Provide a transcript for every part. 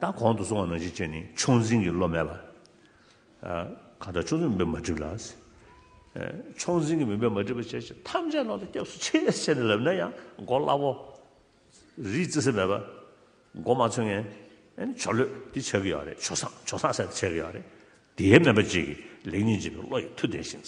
ད་གོང་དུ་སོང་བ་ནང་བཞིན་བྱས་ནས་ཕྱོགས་འཛིན་གྱི་བློ་མེད་ལ། གང་ལྟར་ཕྱོགས་འཛིན་མུན་པས་མ་བསྒྲིབས་ལ། ཕྱོགས་འཛིན་གྱི་མུན་པས་མ་བསྒྲིབས་པ་བྱས་ཞེས་ཐམས་ཅད་ནང་དུ་སྐྱབས་སུ་མཆི་ཞེས་བྱས་ནས་ལབ་ན་ཡང་མགོ་སླ་བོ། རིའི་རྩེ་སེ་མེད་པར་མགོ་མ་འཚོས་ངན། ཆོ་ལོས་དེ་བྱ་གི་ཡོད་རེད་ཆོ་སངས་ཆོ་སངས་ཟེར་ནས་བྱས་གི་ཡོད་རེད། དེའི་སྨན་པ་གཅིག་གིས་ལེགས་ཉེས་འབྱེད་པའི་བློ་ཡི་མཐུ་ལྡན་ཞིང།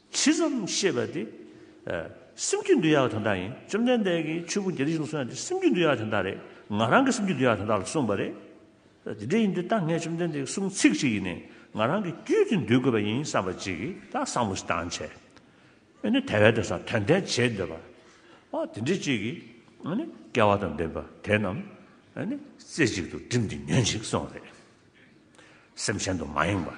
ཇི་ཙམ་ཤེས་པ་དེ། སེམས་རྒྱུད་འདུལ་ཡག་པ་དོན་དག་ཡིན་བཅོམ་ལྡན་འདས་ཀྱིས་ཆོས་ཕུང་བརྒྱད་ཁྲི་བཞི་སྟོང་གསུངས་ཡ་དེ་སེམས་རྒྱུད་འདུལ་ཡག་དོན་དག་རེད་ང་རང་གི་སེམས་རྒྱུད་འདུལ་ཡག་དོན་དག་ལ་གསུངས་པ་རེད། དེ་འདྲ་ཡིན་དུས་ད་ངས་བཅོམ་ལྡན་འདས་ཀྱི་གསུང་ཚིག་ཅིག་ཡིན་ནས་ང་རང་གི་རྒྱུད་དེ་འདུལ་དགོས་པ་ཡིན་བསམ་པ་ཅིག་གིས་ད་བསམ་བློ་ཞིག་བཏང་བྱས། ཨེ་ནི་དེ་བས་དོན་སང་དོན་ལྡན་བྱེད་འདོད་པ། ཨ་དེ་འདྲས་ཅིག་གིས་ཨེ་ནི་སྐལ་བ་དང་ལྡན་པ་དེ་རྣམས་ཨེ་ནི་རྩེ་གཅིག་ཏུ་བསྒྲིམས་ཏེ་ཉོན་ཅིག་གསུངས་པ་རེད། སེམས་ཅན་དུ་མ་ཡེངས་པ།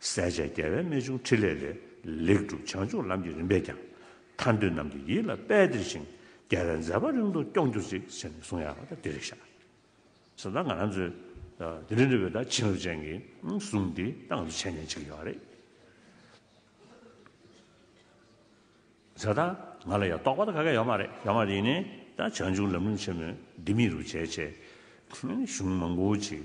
གསལ་བྱེད་རྒྱལ་བའི་རྨད་བྱུང་ཕྲིན་ལས་ལས། ལེགས་གྲུབ་བྱང་ཆུབ་ལམ་གྱི་རིམ་པས་ཀྱང། ཐར་འདོད་རྣམས་ཀྱི་ཡིད་ལ་དཔལ་སྟེར་ཞིང། རྒྱལ་བའི་མཛད་པ་རིང་དུ་སྐྱོང་གྱུར་ཅིག་ཟེར་ནས་གསུང་ཡག་པོ་འདི་རེ་བཞག་ཟེར་ན་ང་རང་ཚོའི་དེ་རིང་འདི་བོད་ཟླ་བྱིན་རླབས་ཅན་གྱི་གཟུངས་འདི་ད་ང་ཚོ་འཆད་ཉན་བྱེད་ཀྱི་ཡོད་པ་རེད། ཟེར་ད་ང་ལ་ཡང་རྟོགས་པ་ད་ག་ག་ཡོད་མ་རེད་ཡོད་མ་རེད་ཡིན་ནའི་ད་བྱང་ཆུབ་ལམ་རིམ་ཆེན་མོའི་ལྡེ་མིག་རུ་བྱས་བྱས། གཞུང་མང་པོ་ཅིག་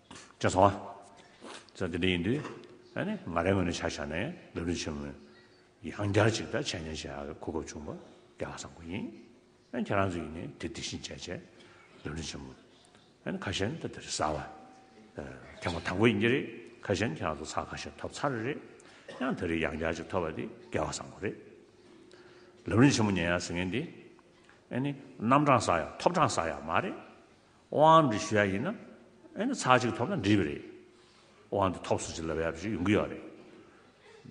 ཅེས་སོང་ང། དེ་འདྲ་ཡིན་དུས། ང་རའི་ངོས་ནས་བྱ་བཞག་ནས་ལས་དོན་ཆེན་མོ་ཡང་བསྐྱར་ཅིག་ད་བྱས་ཉེས་བྱས་ཡག་གི་གོ་སྐབས་བྱུང་བ་དེ་ཧ་སང་པོ་ཡིན། ཁྱེད་རང་ཚོས་ཡིན་ནས་དེ་དེ་བཞིན་བྱས་བྱས་ལས་དོན་ཆེན་མོ། ཁ་ཤས་ནི་ད་དེ་རེད་བསམ་བ། ཐེངས་པ་དང་པོ་ཡིན་གྱི་རེད་ཁ་ཤས་ནི་ཁྱེད་རང་ཚོ་ཚགས་ཁ་ཤས་ཐོབ་ཚར་རེད། ཡང་དེ་རིང་ཡང་བསྐྱར་ཅིག་ཐོབ་པ་དེ་དགེ་བ་སང་པོ་རེད། ལས་དོན་ཆེན་མོ་ཉན་ཡག་ཟེར་མཁན་དེ། རྣམ་གྲངས་བསགས་ཡག་ཐོབ་གྲངས་བསགས་ཡག་མ་རེད། དབང་འདི་ཞུ་ཡ་ཡིན་ན་ཨེ་ན་ཚག་ཅིག་ཐོབ་ན་འགྲིག་པ་རེད། དབང་འདི་ཐོབ་སུ་ཅིག་ལབ་ཡ་ཞིག་ཡོང་གི་ཡོད་རེད།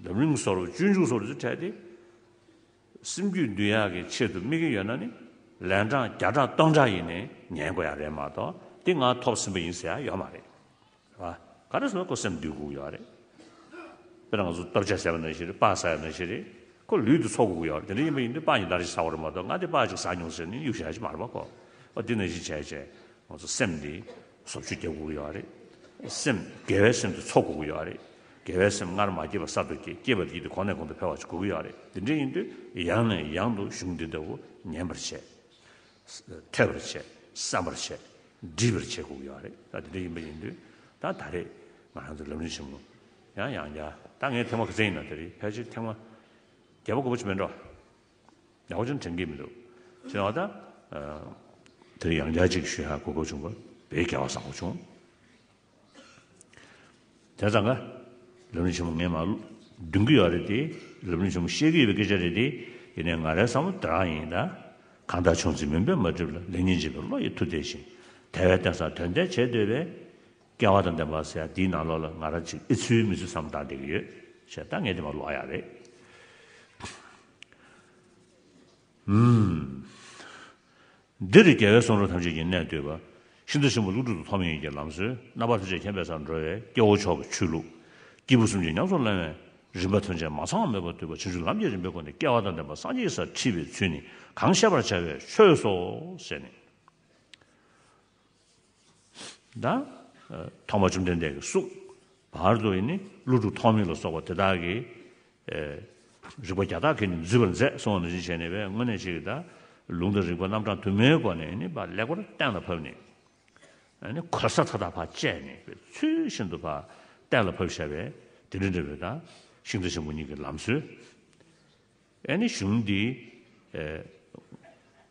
འཛམ་གླིང་གསོ་རུག་བཅོས་འཇུག་སོགས་ལ་ཚུར་ཕྲད་དེ། སེམས་རྒྱུད་འདུལ་ཡ་གི་ཆེད་དུ་དམིགས་ཀྱི་ཡོད་ན་ནི་ལན་གྲངས་བརྒྱ་ཕྲག་སྟོང་ཕྲག་ཡིན་ནས་ཉན་དགོས་ཡ་རེད་མ་གཏོགས་འདི་ང་ཐོབ་ཟིན་པ་ཡིན་ཟེར་ཡ་ཡོད་མ་རེད། ག་རེ་སོང་ཁོ་སེམས་སྡུག་གུག་ཡོད་རེད། དཔེར་ན་ང་ཚོ་སྟོབས་ཆག་བྱས་པ་ན་ཞིག་རེད་དཔའ་ཟ་ཡ་ན་ཞིག་རེད། ཁོ་ལུས་དུ་ཚོར་གུག་ཡོད་རེད་དེ་འདྲ་ཡིན་པ་ཡིན་དུས་དཔའ་ཡིན་ད་རེ་ཞིག་ཟ་བ་རེད་མ་གཏོགས་ང་དེ་དཔའ་ཅིག་ཟ་མྱོང་ཟེར་ནས་གཡུག་བྱ་ཞིག་མ་རེད་པ་ཁོ། ཨོ་དེ་འདྲ་ཞིག་བྱས་བྱས་ང་ཚོ་སེམས་འདི་ཟོབ་ཆུ་རྒྱབ་གུག་ཡོད་རེད། སེམས་དགེ་བའི་སེམས་དེ་ཚོར་གུག་ཡོད་རེད། དགེ་བའི་སེམས་སྔར་མ་སྐྱེས་པར་གསར་དུ་སྐྱེས་སྐྱེས་པ་དེ་དེ་གོང་ནས་གོང་དུ་འཕེལ་བ་ཞིག་གུག་ཡོད་རེད་དེ་འདྲ་ཡིན་དུས་ཡང་ནས་ཡང་དུ་གཞུང་འདི་ལྟ་བུ་ཉན་པར་བྱེད། ཐལ་བར་བྱས། བསམ་པར་བྱས། འདྲིས་པར་བྱས་ཁུག་ཡོད་པ་རེད། ད་དེ་འདྲ་ཡིན་པ་ཡིན་དུས་ད་ད་རེས་ང་རང་ཚོ་ལམ་རིན་ཆེན་མོ་ཡང་ཡང་བརྒྱ་ད་ངའི་ཐེངས་མ་ག་ཚད་ཡིན་ན་དེ་རིང་ཕལ་ཆེར་ཐེངས་མ་བརྒྱ་པ་དགུ་པ་ཅིག་མེད་འགྲོ། ཡང་བསྐོར་ཅུང་དྲན་གྱི་མི་འདུག་ཅི་ཡང་བ་དང། དེ་རིང་ཡང་བརྒྱ་གཅིག་ཤུལ་ཧ་གོ་དགོས་བྱུང་བ་བས་བརྒྱ་བ་བཟང་བོ་བྱུང། དེ་ཙང་ཀ། རབ་གནས་ཆེན་པོ་ངས་མ་བདུན་གི་ཡོད་རེད་དེ། རབ་གནས་ཆེན་པོ་ཤེས་ཀི་ཡོད་པའི་སྐད་ཆ་རེད་དེ། ཡིན་ནའི་ང་རའི་བསམ་བློ་དེ་རང་ཡིན་ད། གང་ལྟར་ཆུང་ཚེ་མུན་པས་མ་བསྒྲིབས་ལ་ལེགས་ཉེས་འབྱེད་པའི་བློ་ཡི་མཐུ་དེ་བཞིན། དལ་བའི་རྟེན་སར་དོན་དལ་བྱེད་འདོད་པས། སྐལ་བ་དང་ལྡན་པ་ཟེར་ཡ་འདིའི་ནང་ལོགས་ལ་ང་ར་ཅིག་ཨེ་ཚུལ་མི་ཚུལ་བསམ་བཏང་བསྡད་ཀི་ཡོད། བྱས་ད་ངས་དེ་མ་ལོག་ཡ་རེད། འདིར་རྒྱལ་བའི་གསུང་རབ་ཐམས་ཅད་ཀྱི་གནད་བསྡུས་པ། ཤིན་ཏུ་གསོན་པོ་ཀླུ་སྒྲུབ་ཏུ་ཐོགས་མེད་ཡིན་གྱི་ལམ་སྲོལ་རྣམ་པ་ཐམས་ཅད་མཁྱེན་པའི་སར་འགྲོ་བས་སྐྱེ་བོ་མཆོག་གི་ཆོས་ལུགས། སྐྱེས་བུ་གསུམ་གྱི་ཉམས་སུ་བླང་བའི་རིམ་པ་ཐོན་བྱེད་མ་ཚང་བ་མེད་པར་བསྡུས་པ་ཕྱིན་ཅི་ལམ་གྱི་རིམ་པའི་སྒོ་ནས་སྐལ་བ་དང་ལྡན་པ་སངས་རྒྱས་ཀྱི་སར་འཁྲིད་པའི་ཚུལ་ནི་གང་བཤད་པར་བྱ་བའི་ཆོས་སོ། ཞེས་ནི། ཐོག་མ་བཅོམ་ལྡན་འདས་ཀྱི་གཟུགས། བར་དུ་ནི་ཀླུ་དྲུག་ཐོགས་མེད་ལ་སོགས་པ་དེ་དག་གིས། རིག་པ་བརྒྱ་དག་གིས་ནི་འཛུད་པར་མཛད་གསོལ་བ་ནན་ཅིང་བྱས་ནས་པའི་སྔོན་གནས་བྱེད་ཀྱི་དག། ལུང་དང་རིགས་པ་རྣམ་གྲངས་དུ་མའི་སྒོ་ནས་ནི་ལེགས་པར་གཏན་ལ་ཕབ་ནས། གོལ་ས་མཐའ་དག་བར་བཅད་ནས་པའི་ཚུལ་བཞིན་དུ་གཏན་ལ་ཕབ་བྱ་བའི་དེ་འདྲ་འབྲས་བུའི་དག། ཤིང་རྟ་ཆེན་པོ་གཉིས་ཀྱི་ལམ་སྲོལ། གཞུང་འདིའི།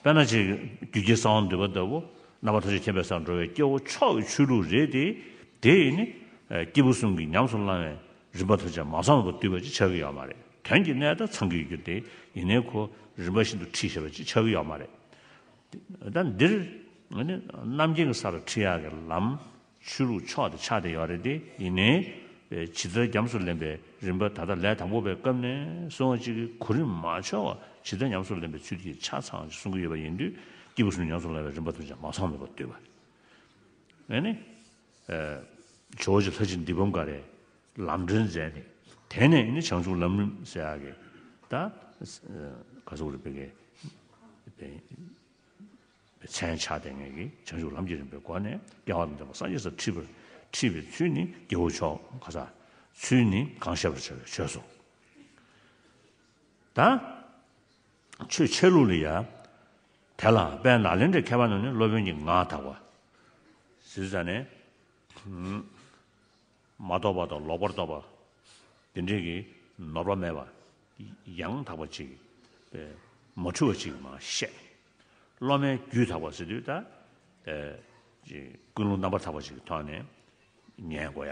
དཔེར་ན་ཆེས་རྒྱུད་རྒྱལ་གསང་བ་འདུས་པ་ལྟ་བུ་རྣམ་པ་ཐམས་ཅད་མཁྱེན་པའི་སར་འགྲོ་བའི་སྐྱེ་བོ་ཕྱོགས་ཀྱི་ཆོས་ལུགས་རེད་དེ། དེ་ཡིས་ནི། སྐྱེས་བུ་གསུམ་གྱི་ཉམས་སུ་བླང་བའི་རིམ་པ་ཐམས་ཅད་མ་ཚང་བ་བར་བསྡུས་པ་ཅིག་ཆགས་ཀྱི་ཡོད་མ་རེད། དོན་གྱི་གནད་ད་ཚང་གི་ཡོད་རྒྱུ་དེ་ཡིན་ནའི་གོ། རིམ་པ་ཤིན་ཏུ་ཁྲིད་ཤེས་པ་ཅིག་ཆགས་ཀྱི་ཡོད་མ་རེད། ད་འདིར། རྣམ་མཁྱེན་གྱི་ས་ལ་ཁྲིད་ཡག་གི་ལམ་ཆོས་ལུགས་ཕྱོགས་དེ་ཆགས་བསྡད་ཡོད་རེད་དེ། ཡིན་ནའི། བྱི་ཚོལ་རྒྱམ་སུ་ལེན་པའི་རིམ་པ་ད་ལྟ་ལས་དང་པོ་པའི་སྐབས་ནས་སོང་བ་གཅིག་གི་གོ་རིམ་མ་འཆོལ་བར་བྱི་ཚོལ་ཉམས་སུ་ལེན་པའི་ཚུལ་གྱིས་ཆ་ཚང་ཞིག་གསུང་གི་ཡོད་པ་ཡིན་དུས་སྐྱེས་བུ་སུ་ཉམས་སུ་ལེན་བའི་རིམ་པ་དུ་ཅང་མ་ཚང་མེད་པར་བལྟོས་པ་ཡིན། ནས། ཇོ་བོ་རྗེ་ལྷ་ཅིག་འདི་བུམ་ཀ་རའི་ལམ་སྒྲོན་མཛད་དེ། དེ་ནས་ནི་བྱང་ཆུབ་ལམ་རིམ་སེ་ཨ་གེ། ད། ག་ཟུག་རེ་བེ་གེ། མཚན་བྱ་སྟེ་ངེས་ཀྱི་བྱང་ཆུབ་ལམ་གྱི་རིམ་པའི་སྒོ་ནས་སྐལ་བ་དང་ལྡན་པ་སངས་རྒྱས་སུ་འཁྲིད་པའི་ཚུལ་ནི་རྒྱལ་པོ་མཆོག་ག་ས་ཚུལ་ནི་གང་བཤད་པར་བྱ་བའི་ཆོས་སོ། ད་ཆོས་འཆད་ལུགས་ལ་ཡང་དེ་ལ་དཔལ་ནཱ་ལེནྡྲའི་ཁྱད་པར་ནི་སློབ་དཔོན་གྱི་ངག་དག་པ། ཟིར་བཟའ་ནས། མ་རྟོགས་པ་དང་ལོག་པར་རྟོག་པ། འདི་འདྲེས་ཀྱི་ནོར་བ་མེད་པ། ཡང་དག་པ་ཅིག། མ་འཁྲུལ་བ་ཅིག་མ་ཤེས། སློབ་མའི་རྒྱུད་དག་པར་སེམས་དུས་ལྟ། ཀུན་སློང་རྣམ་པར་དག་པ་ཅིག་མཐོང་ནས། ཉན་དགོས་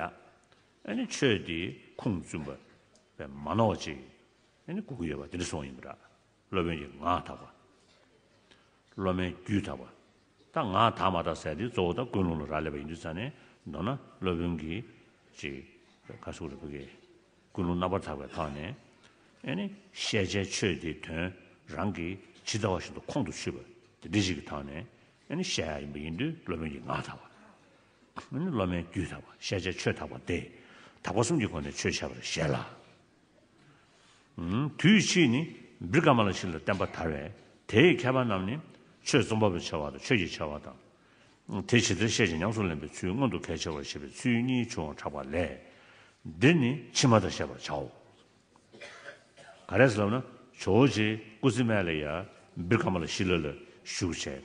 ཡ། ཆོས་འདི་ཁུངས་བཙུན་པ། མ་ནོར་བ་ཅིག། དགོས་ཀྱི་ཡོད་པ་འདི་འདྲ་སོང་ཡིན་པ་འདྲ། སློབ་དཔོན་གྱི་ངག་དག་པ། སློབ་མའི་རྒྱུད་དག་པ། ད་ང་དག་མ་དག་ཟེར་དེ་གཙོ་བོ་དག་ཀུན་སློང་ལ་རག་ལས་པ་ཡིན་དུས་ཙང་ནས་མདོར་ན་སློབ་དཔོན་གྱིས་ཅིག་ཁ་སུག་རེ་བུ་གས། ཀུན་སློང་རྣམ་པར་དག་པའི་ཐོག་ནས་ཨེ་ནི་བཤད་བྱའི་ཆོས་དེའི་དོན་རང་གི་ཇི་ལྟ་བ་བཞིན་དུ་ཁོང་དུ་ཆུད་པ་དེ་འདི་ཞིག་གི་ཐོག་ནས་ཨེ་ནི་བཤད་ཡ་ཡིན་པ་ཡིན་དུས་སློབ་དཔོན་གྱིས་ངག་དག་པ་ཨེ་ནི་སློབ་མའི་རྒྱུད་དག་པ་བཤད་བྱའི་ཆོས་དག་པ་སྟེ་དག་པ་གསུམ་གྱི་སྒོ་ནས་ཆོས་འཆད་པར་བཞེད་ལ། དུས་གཅིག་ནི་བིར་ཀ་མ་ལ་ཞིག་ལ་བསྟན་པ་དར་བས་དེའི་མཁས་པ་རྣམས་ནི་ཆོས་རྩོམ་པ་པོའི་བྱ་བ་དང་ཆོས་ཀྱི་བྱ་བ་དང། དེ་ཇི་ལྟར་བཤད་ཅིང་ཉམས་སུ་ལེན་པའི་ཚུལ་མངོན་དུ་གལ་ཆེ་བར་བྱེད་པའི་ཚུལ་གཉིས་བྱུང་བར་གྲགས་པ་ལས། འདིར་ནི་ཕྱི་མ་དག་བཤད་པར་བྱའོ། ག་རེ་ལབ་ན་ཇོ་བོ་རྗེས་ཀུ་ཙི་མཱེ་ལ་ཡཱ་བིར་ཀ་མ་ལ་ཤི་ལ་ལ་བཞུགས་བྱས།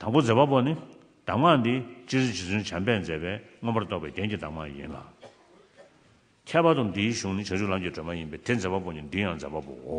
དང་པོ་མཛད་པ་པོ་ནི། གདམས་ངག་འདི་སྤྱིར་རྗེ་བཙུན་བྱམས་པས་མཛད་པའི་མངོན་པར་རྟོགས་པའི་རྒྱན་གྱི་གདམས་ངག་ཡིན་ལ། ཁྱད་པར་དུ་འདིའི་གཞུང་ནི་བྱང་ཆུབ་ལམ་གྱི་སྒྲོན་མ་ཡིན་པས་དེ་མཛད་པ་པོ་ནི་འདི་ཡང་མཛད་པ་པོའོ།